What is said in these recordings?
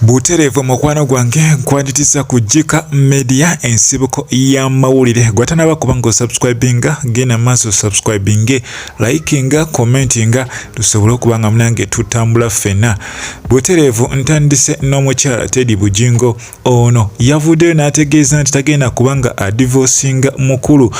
Butereevu mukwano gwange nkwanditiza ku Jika Media ensibuko ya mawulire gwatanaba kuba nga osubscribinga genda maaso subscribinge likinga commentinga tusobole okuba nga munange tutambula ffena butereevu ntandise n'omukyala Teddy Bujingo ono yavuddeyo n'ategeeza nti tagenda kuba nga adivosinga mukulu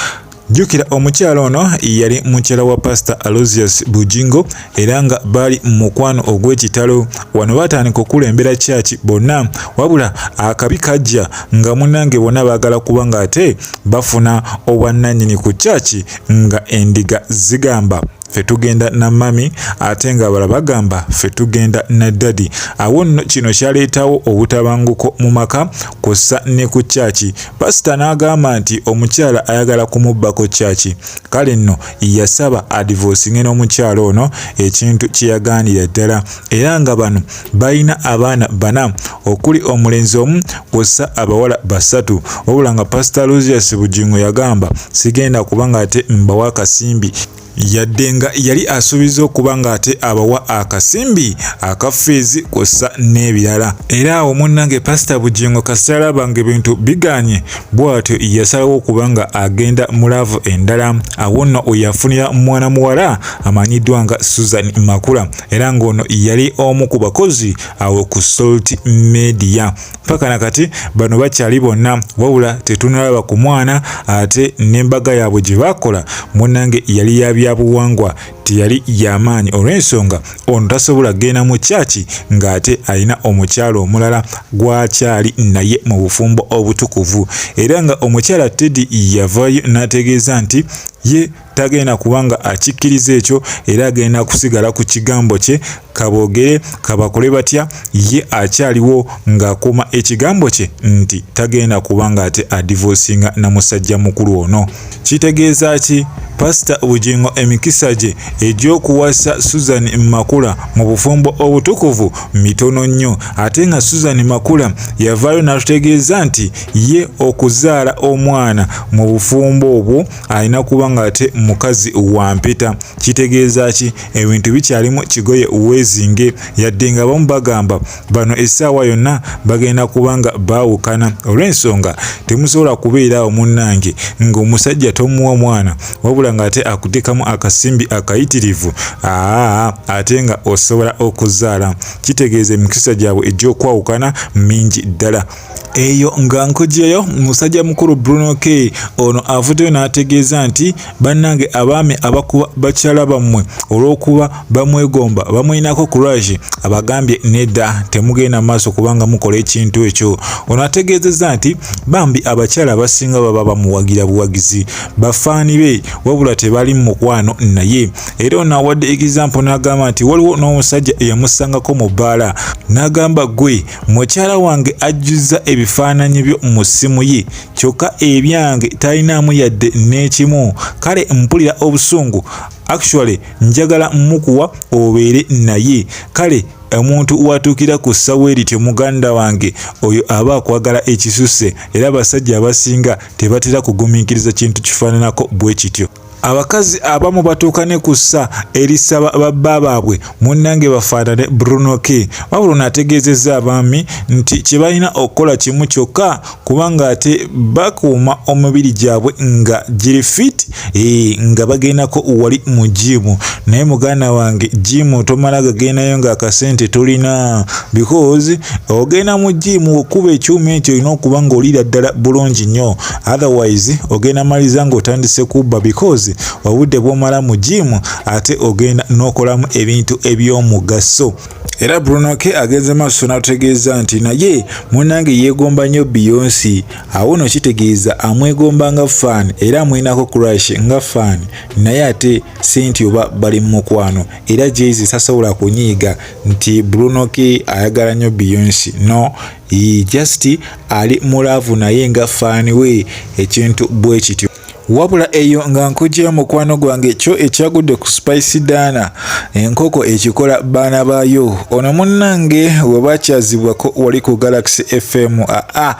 Jjukira omukyala ono yali mukyala wa Pasita Alozius Bujingo era nga baali mu mukwano ogw'ekitalo. Wano baatandika okukulembera kyaki bonna wabula akabi kajja nga munnange bonna baagala kuba ng'ate bafuna obwannannyini ku kyaki nga endiga zigamba. ffe tugenda na mami ate nga bala bagamba ffe tugenda na dadi awo nno kino kyaleetawo obutabanguko mu maka kussa ne ku kyaki pasita n'agamba nti omukyala ayagala kumubbako kyaki kale nno yasaba adivoosinge n'omukyala ono ekintu kye yagaanira ddala era nga bano balina abaana bana okuli omulenzi omu kwossa abawala basatu wabula nga pasita lusius bugingo yagamba sigenda kuba ng'ate mbawa akasimbi yadde nga yali asuubiza okuba ng'ate abawa akasimbi aka fiizi kwossa n'ebirala era awo munnange pasita bugingo kasita alaba nga ebintu biganye bw'atyo yasalawo okuba nga agenda mu laavu endala awo nno oyafunira mwana muwala amanyiddwa nga susan makula era ng'ono yali omu ku bakozi awo ku salt media mpaka na kati bano bakyali bonna wabula tetunalaba ku mwana ate n'embaga yaabwe gye baakola munange yali ya byabuwangwa teyali yamaanyi olw'ensonga ono tasobola kgenda mu kyaki ng'ate alina omukyala omulala gwakyali naye mu bufumbo obutukuvu era nga omukyala teddy yavayo n'ategeeza nti ye tagenda kuba nga akikkiriza ekyo era agenda kusigala ku kigambo kye kaboogere kabakole batya ye akyaliwo ng'akuuma ekigambo kye nti tagenda kuba ng'ate adivosinga na musajja mukulu ono kitegeeza ki pasita bugingo emikisa gye egy'okuwasa susan makula mu bufumbo obutukuvu mitono nnyo ate nga susan makula yavaayo n'atutegeeza nti ye okuzaala omwana mu bufumbo obwo alina kuba nga ate mukazi wa mpeta kitegeeza ki ebintu bikyalimu kigoye weezinge yadde nga bamu bagamba bano essaawa yonna bagenda kuba nga baawukana olw'ensonga temusobola kubeera awo munnange ng'omusajja tomuwa mwana wabula ng'ate akuteekamu akasimbi akayitirivu aa ate nga osobola okuzaala kitegeeza emikisa gyabwe egy'okwawukana mingi ddala eyo nga nkugyeyo musajja mukulu bruno k ono avuddeyo n'ategeeza nti bannange abaami abakuba bakyala bammwe olw'okuba bamwegomba bamuyinako courage abagambye nedda temugenda maaso kubanga mukola ekintu ekyo ono ategeezezza nti bambi abakyala abasinga baba bamuwagira buwagizi bafaani be wabula tebali mu mukwano naye era ono awadde egizampo n'agamba nti waliwo n'omusajja eyamusangako mu bbaala n'agamba gwe Mukyala wange ajjuzza ebifaananyi byo mu ssimu ye kyokka ebyange talinaamu yadde n'ekimu kale mpulira obusungu actually njagala mukuwa obeere naye kale omuntu watuukira ku ssawa erityo muganda wange oyo aba akwagala ekisusse era abasajja abasinga tebatera kugumiikiriza kintu kifaananako bwe kityo abakazi abamu batuuka ne ku ssa erisaba babba baabwe munnange bafaanane bruno k wabula ono ategeezezza abaami nti kye balina okukola kimu kyokka kubanga ate bakuuma omubiri gyabwe nga giri fit e, nga bagendako wali mu jiimu naye muganda wange jiimu tomala gagendayo ng'akasente tolina because ogenda mu jiimu okuba ekyuma ekyo olina okuba ng'oliira ddala bulungi nnyo otherwise ogenda maliza ng'otandise kubba because obudde bw'omala mu jiimu ate ogenda n'okolamu ebintu eby'omugaso era bruno ke agenze maaso n'atutegeeza nti naye munnange yeegomba nnyo biyonsi awo no kitegeeza amwegomba nga fan era amwinako crash nga fan naye ate senti oba bali mu mukwano era jezi tasobola kunyiiga nti bruno ke ayagala nnyo biyonsi no Yii just ali mu love naye nga fan we ekintu bwe kityo. Wabula eyo nga nkugyeyo mukwano gwange kyo ekyagudde ku spice daana enkoko ekikola baana baayo ono munnange webakyazibwako wali ku galaxy fm aa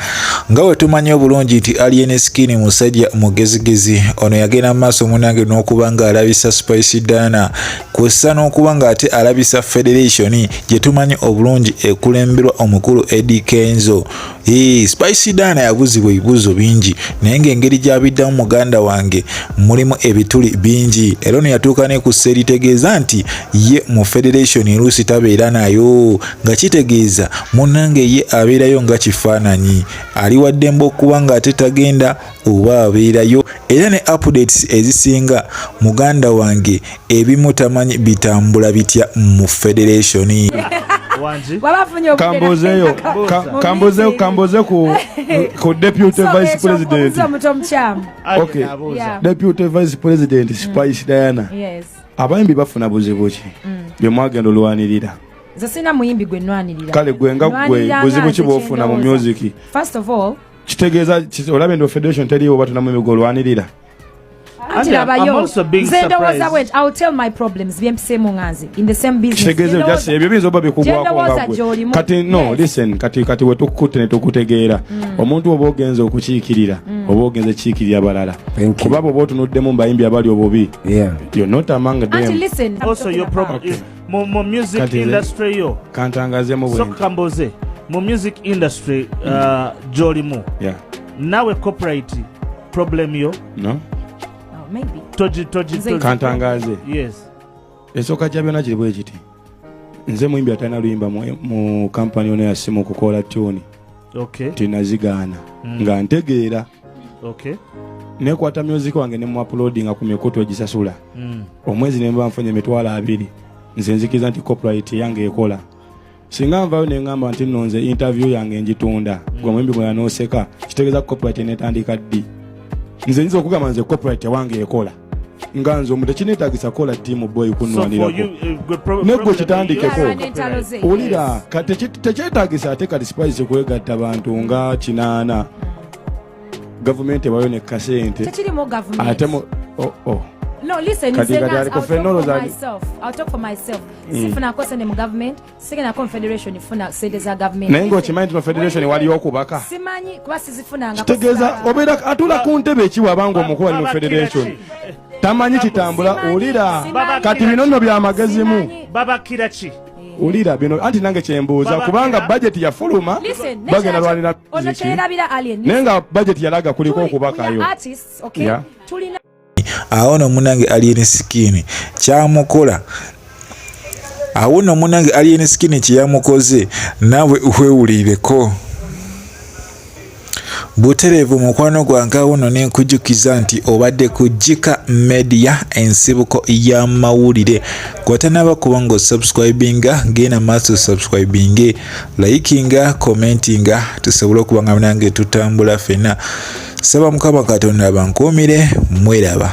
nga wetumanyi obulungi nti alien skin musajja mugezigezi ono yagenda mu maaso munnange n'okuba nga alabisa spice daana kw'ossa n'okuba ng'ate alabisa federation gye tumanyi obulungi ekulemberwa omukulu Eddie Kenzo. Ee, Spice Diana yabuuzibwa ebibuuzo bingi naye ng'engeri gy'abiddamu muganda wange mulimu ebituli bingi era ono yatuuka ne ku ssa eritegeeza nti ye mu federation eruusi tabeera nayo nga kitegeeza munnange ye abeerayo nga kifaananyi ali waddembe okuba ng'ate tagenda oba abeerayo era ne updates ezisinga muganda wange ebimu tamanyi bitambula bitya mu federation kambuzeyo kambuze ku deputy vice president deputy vice president mm. spice diana abayimbi bafuna buzibu ki mm. byemwagenda olwanirira nze sirina muyimbi gwe nwanirira kale gwe nga gwe buzibu ki bwofuna mu music first of all kitegeeza olaba endo federation teriwo batuna mu migo olwanirira ebyo biyinza oba bikugwakonkati no listen kati kati wetukukutte netukutegeera mm. omuntu oba ogenza okukiikirira mm. oba ogenza ekiikirira balala kuba bwoba otunuddemu mubayimbi abali obubi mu mu music Kati nze- industry yo kantangazemu bwe soka nti. kamboze mu music industry uh, gyolimu Yeah. nawe copyright problem yo No? Oh, maybe. togi togi Nze- togi- kantangaze yes esooka kya byonna kiri bwe kiti nze muyimbi atalina luyimba mu, mu kampani ono yasimu okukola tuni okay tinazigaana nga ntegeera okay. nekwata music wange ne muapulodinga ku mikutu egisasula mm. omwezi nemba nfunye emitwalo abiri nze nzikiriza nti copyright yange ekola singa nvayo nengamba nti no nze interview yange njitunda mm. gwe muyimbi mwenanoseka kitegeeza copyright netandika ddi nze nyinza okugamba nze copyright wange ekola nga nze omu tekinetagisa kola tiimu boy kunwanirakonegwe eh, kitandikeko wulira tekyetagisa ate kati spice kwegatta bantu nga kinaana gavumenti ewayo ne kasente ate oh, oh. No, listen, kati kati aliko fenoloza. I'll talk for myself. Mm. Sifuna kose ne mu government. sigenda confederation funa sente za government naye nga okimanyi nti confederation wali okubaka simanyi kuba sizifunanga kitegeeza obeera atula ku ntebe ekiwa abanga omukulu ali mu federation tamanyi kitambula ulira kati bino nno byamagezimu babakira ki ulira bino anti nange kyembuuza kubanga bajeti yafuluma bagenda lwanira naye nga bajeti yalaga kuliko okubakayo awo no munange alien skin kyamukola awo no munange alien skin kyeyamukoze nawe wewulireko butereevu mukwano gwange awo no nenkujukiza nti obadde ku jika media ensibuko y'amawulire gwatanaba kuba nga osubscribinga genda maaso subscribinge likinga commentinga tusobole okuba nga nange tutambula fena saba mukama katonda abankuumire mweraba